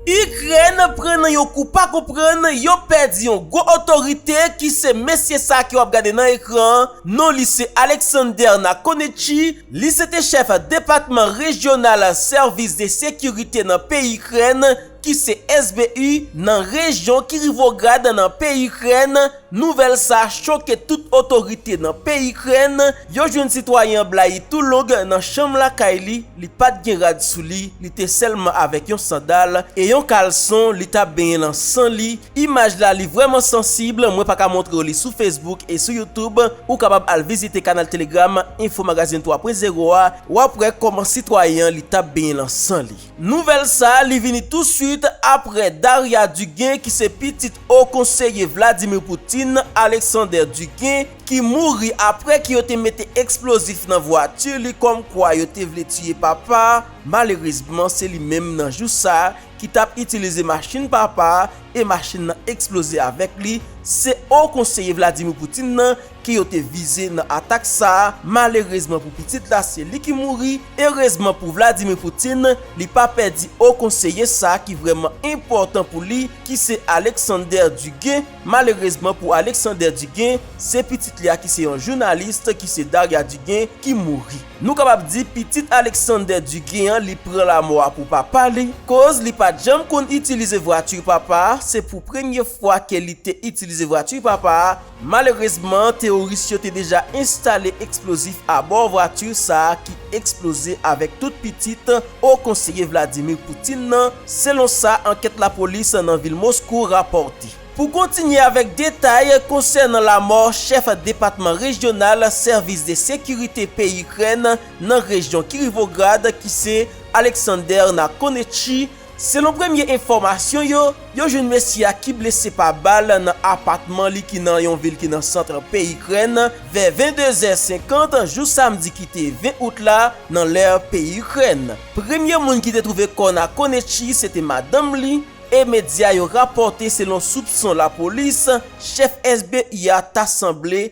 Ukraine pran nan yon kou pa konprann yo pèdi yon gwo otorite ki se mesye sa ke wap gade nan ekran an non li se Alexander Nakonichi li se te chèf depatman rejyonal sèvis de sekirite nan peyi Ukraine ki se SBU nan rejyon Kirovograd nan peyi Ukraine Nouvèl sa choke tout otorite nan peyi Ikrèn, yo jwenn sitwayen an blayi tou long nan chanm lakay li, li pat gen rad sou li, li te sèlman avèk yon sandal e yon kalson, li tap benyen lan san li, imaj la li vrèman sansib, mwen paka montrew li sou Facebook e sou YouTube, ou kapab al vizite kanal Telegram Info Magazine 3 Pwen Zewo a, wap wè kòman sitwayen an li tap benyen lan san li. Nouvèl sa li vini tou swit aprè Daria Dugin ki se pitit Ho Konseye Vladimir Putin, Alexander Dugin, ki mouri aprè ke yo te mete eksplozif nan vwati li kòm kwa yo te vle tiye papa, malerezman se li menm nan jou sa ki tap itilize machin papa e machin nan eksploze avèk li, se Ho Konseye Vladimir Putin nan ke yo te vize nan atak sa a, malerezman pou pitit la se li ki mouri, erezman pou Vladimir Putin li pa pèdi o konseye sa ki vrèman enpòtan pou li ki se Alexander Dugin, malerezman pou Alexander Dugin se pitit li a ki se yon journaliste ki se Darya Dugin ki mouri. Nou kapab di pitit Alexander Dugin an li pran lamò a pou papa li, koz li pat janm konn itilize vwatur papa a, se pou premye fwa ke li te itilize vwatur papa a, Malerezman, teworis yo te deja enstale eksplozif abò vwati sa a ki eksploze avèk tout pitit Wo Konseye Vladimir Putin nan, selon sa ankèt lapolis nan vil Moskou rapòte. Pou kontinye avèk detay konsènan lamò chèf depatman rejyonal sèvis de sekirite peyi Ikrèn nan rejyon Kiryvograd ki se Alexander Nakonechny, Selon premye enfòmasyon yo, yo jwenn mesye a ki blese pa bal nan apatman li ki nan yon vil ki nan sant peyi Ikrèn vè 22 zè 50 jou samdi ki te 20 out la nan lè peyi Ikrèn. Premye moun ki te twouve kò Nakonechii se te madanm li e medya yo rapòte selon soupson lapolis, chèf SBU a ta sanble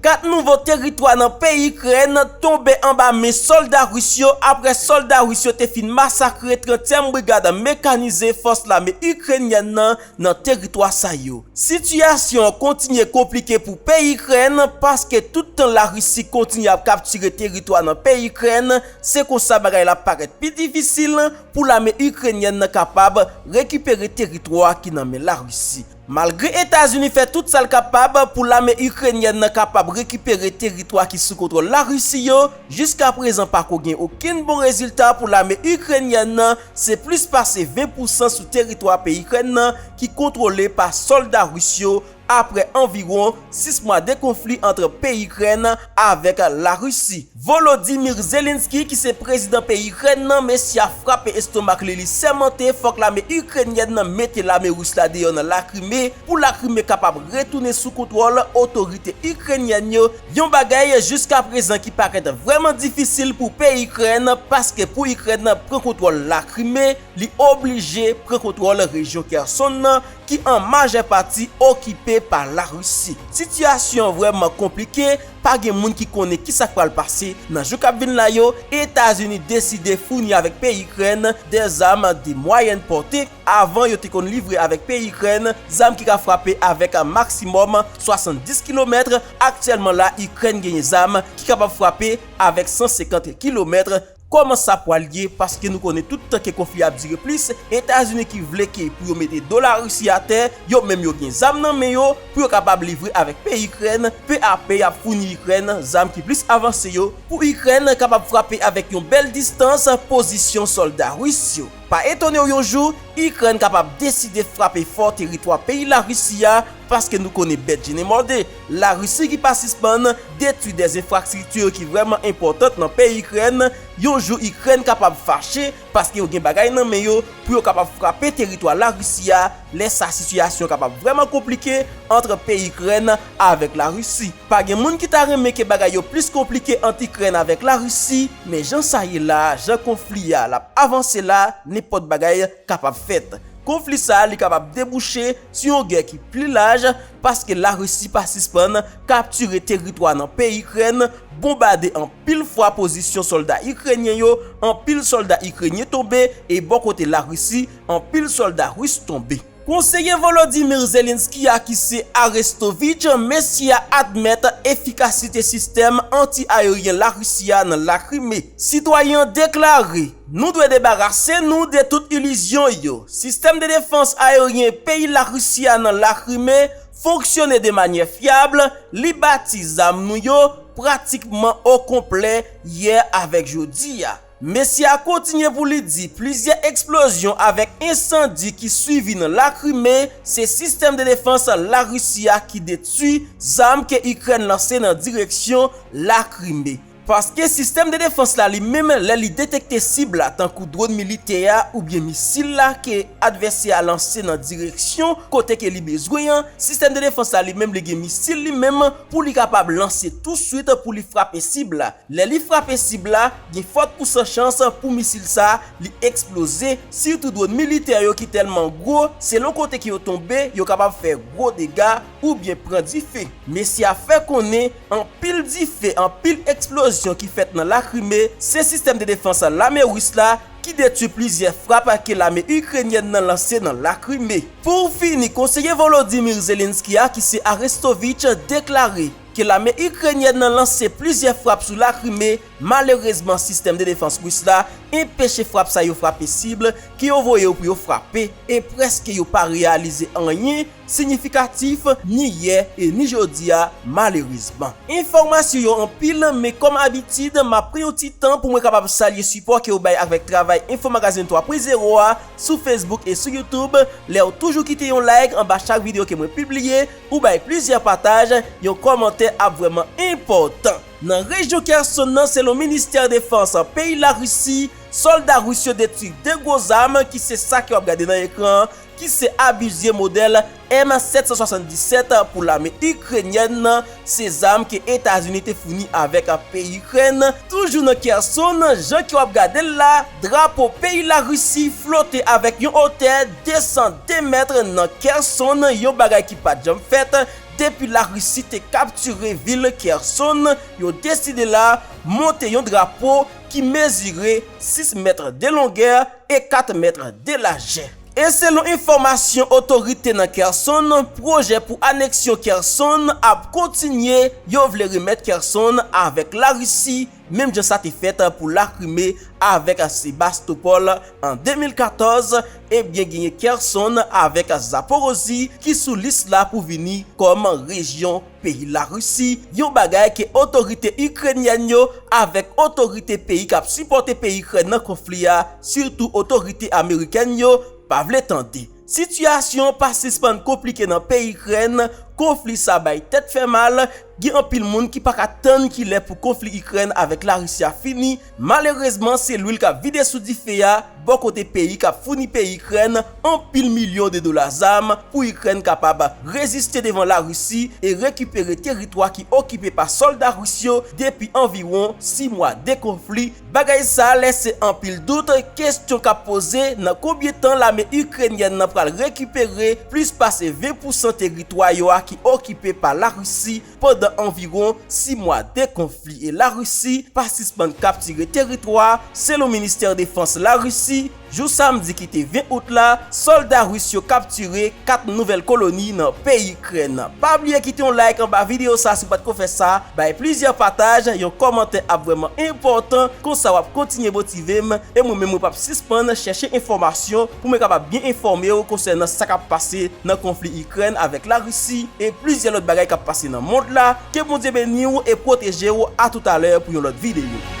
Kat nouvo teritwa nan peyi Ikrèn tonbe anba men sòlda ris yo apre sòlda ris yo te fin masakre Trantyèm Brigad Mekanize Fòs Lame Ikrenyèn nan nan teritwa sa yo. Sitiyasyon an kontinye konplike pou peyi Ikrèn paske tout tan Larisi kontinye ap kaptire teritwa nan peyi Ikrèn, se konsa bagay la parèt pi difisil pou lame Ikrenyèn nan kapab rekipere teritwa ki nan men Larisi. Malgre Etazini fè tout sa l kapab pou lame Ikrenyèn nan kapab rekipere teritwa ki sou kontwòl Larisi yo, jiska prezan pako gen okenn bon rezilta pou lame Ikrenyèn nan, se plis pase 20 pousan sou teritwa peyi Ikrèn nan ki kontwole pa sòlda Ris yo, aprè anviwon 6 mwa de konfli ant peyi Ikrèn, avèk Larisi. Volodymyr Zelensky ki se prezidan peyi Ikrèn nan, mesye a frape estomak li, li sèmante fòk lame Ikrenyèn nan mete lame Ris la deyò nan Lakrime pou Lakrime kapab retounen sou kontwòl otorite Ikrenyèn yo, yon bagay jiskaprezan ki parèt vrèman difisil pou peyi Ikrèn paske pou Ikrèn pran kontwòl Lakrime, li oblije pran kontwòl rejyon Kherson nan, ki an majè pati okipe pa Larisi. Sitiyasyon an vrèman konplike, pa gen moun ki konnen ki sa k pral pase nan jou k ap vin la yo, Etazini deside founi avèk peyi Ikrèn de zam de mwayèn pòte, avan yo te konn livre avèk peyi Ikrèn zam ki ka frape avèk maksimòm 70 kilomèt, aktyèlman la Ikrèn genyen zam ki kapab frape avèk 150 kilomèt. Koman sa pwal ye paske nou konnen tout tan ke konfli ap dire plis etazini ki vle ke pou yo mete do la Russie atè yo menm yo gen zam nan men yo pou yo kapab livre avèk peyi ikrèn pe a pe yap founi ikrèn zam ki plis avanse yo pou ikrèn kapab frape avèk yon bèl distans pozisyon solda Russe yo pa etonew yon jou ikrèn kapab deside frape fò teritwa peyi la Russie a paske nou konnen bèt jennen mòde. Larisi ki pa sispann detwi 2 enfrakstrikti ki vrèman enpòtant nan peyi Ikrèn, yon jou Ikrèn kapab fache paske yo gen bagay nan men yo pou yo kapab frape teritwa Larisi a, lè sa sitiyasyon kapab vrèman konplike antr peyi Ikrèn avèk Larisi. Pa gen moun ki ta renmen ke bagay yo plis konplike ant Ikrèn avèk Larisi, men jan sa ye la, jan konfli a l ap avanse la, nenpòt bagay kapab fèt. Konfli sa li kapab debouche. Sou yon gè ki pli laj, paske Larisi pa sispann kaptire teritwa nan peyi Ikrèn, bonbade anpil fwa pozisyon sòlda Ikrenyen yo, anpil sòlda Ikrenyen tonbe e bò kote Larisi, anpil sòlda Ris tonbe. Konseye Volodymyr Zelensky a ki se Arestovych, mesye a admèt efikasite sistèm anti-aeryen Larisi a nan Lakrime. Sitwayen an deklare. Nou dwe debarase nou de tout ilizyon yo. Sistèm de defans aeryen peyi Larisi a nan Lakrime fonksyone de manyè fyab, li bati zam nou yo pratikman o konplè yè avèk jodi a. Mesye a kontinye pou li di plizyè eksplozyon avèk ensandi ki swivi nan Lakrime se sistèm de defans Larisi a ki detwi zam ke Ikrèn lanse nan direksyon Lakrime. Paske sistèm de defans la li menm lè li detekte sib la tankou dron militè a oubyen misil la ke advèsè a lanse nan direksyon kote ke li bezwen an, sistèm de defans la li menm li gen misil li menm pou li kapab lanse touswit pou li frape sib la. Lè li frape sib la, gen fòt pou san chans pou misil sa li eksploze, sitou dron militè yo ki tèlman gwo, selon kote ke yo tonbe yo kapab fè gwo dega oubyen pran dife. Mesye a fè konnen Anpil dife, anpil eksplozyon ki fèt nan Lakrime, se sistèm de defans lame Ris la ki detwi plizyè frap ke lame Ikrenyèn nan lanse nan Lakrime. Pou fini, konseye Volodymyr Zelensky a ki se Arestovych deklare ke lame Ikrenyèn nan lanse plizyè frap sou Lakrime, malerezman sistèm de defans Ris la enpeche frap sa yo frape sib ke yo voye yo pou yo frape, e prèske yo pa reyalize anyen Sinyifikatif ni yè e ni jodi a malerezman. Enfòmasyon yo anpil men kòm abitid m ap pran yon ti tan pou mwen kapab salye sipò ke ou bay avèk travay Info Magazine 3 pwen zewo a sou Facebook e sou YouTube, lè ou toujou kite yon like anba chak video ke mwen pibliye, ou bay plizyè pataj, yon kòmantè ap vrèman enpòtan. Nan rejyon Kherson nan selon ministè defans peyi Larisi, sòlda Ris yo detwi 2 gwo zam ki se sa ke w ap gade nan ekran an ki se abizye modèl M-777 pou lame Ikrenyèn nan, se zam ke Etazini te founi avèk peyi Ikrèn, toujou nan Kherson, jan ke wap gade l la, drapo peyi Larisi flote avèk yon otè 202 mèt nan Kherson, yon bagay ki pat janm fèt depi Larisi te kaptire vil Kherson, yo deside la monte yon drapo ki mezire 6 mèt de longè, e 4 mèt de lajè. E selon enfòmasyon otorite nan Kherson, pwojè pou aneksyon Kherson ap kontinye, yo vle remèt Kherson avèk Larisi menm jan sa te fèt pou Lakrime avèk Sebastopol an 2014, ebyen genyen Kherson avèk Zaporozhye ki sou lis la pou vini kòm rejyon Peyi Larisi, yon bagay ke otorite Ikrenyèn yo avèk otorite peyi kap sipòte peyi Ikrèn nan konfli a, sitou otorite Amerikèn yo, pa vle tande. Sitiyasyon an pa sispann konplike nan peyi Ikrèn, konfli sa bay tèt fè mal, gen anpil moun ki paka tann kilè pou konfli Ikrèn avèk Larisi a fini, Malerezman se lwil kap vide sou dife a bò kote peyi kap founi peyi Ikrèn anpil milyon de dola zam pou Ikrèn kapab reziste devan Larisi e rekipere teritwa ki okipe pa sòlda Ris yo depi anviwon 6 mwa de konfli bagay sa lèse anpil dout kestyon kap poze nan konbyen tan lame Ikrenyèn nan pral rekipere plis pase 20 pousan teritwa yo a ki okipe pa Larisi Pandan anviwon 6 mwa de konfli e Larisi pa sispann kaptire teritwa, selon Ministè Defans Larisi, jou samdi ki te 20 out la, sòlda ris yo kaptire 4 nouvèl koloni nan peyi Ikrèn. Pa bliye kite yon like anba videyo sa si w pat ko fè sa, bay plizyè pataj, yon kòmantè ap vrèman enpòtan, konsa wap kontinye motive m e mwen menm mwen pap sispann chèche enfòmasyon pou mwen kapab byen enfòme w konsènan sa k ap pase nan konfli Ikrèn avèk Larisi e plizyè lòt bagay k ap pase nan mond la, ke Bondye beni w e pwoteje w a toutalè pou yon lòt videyo.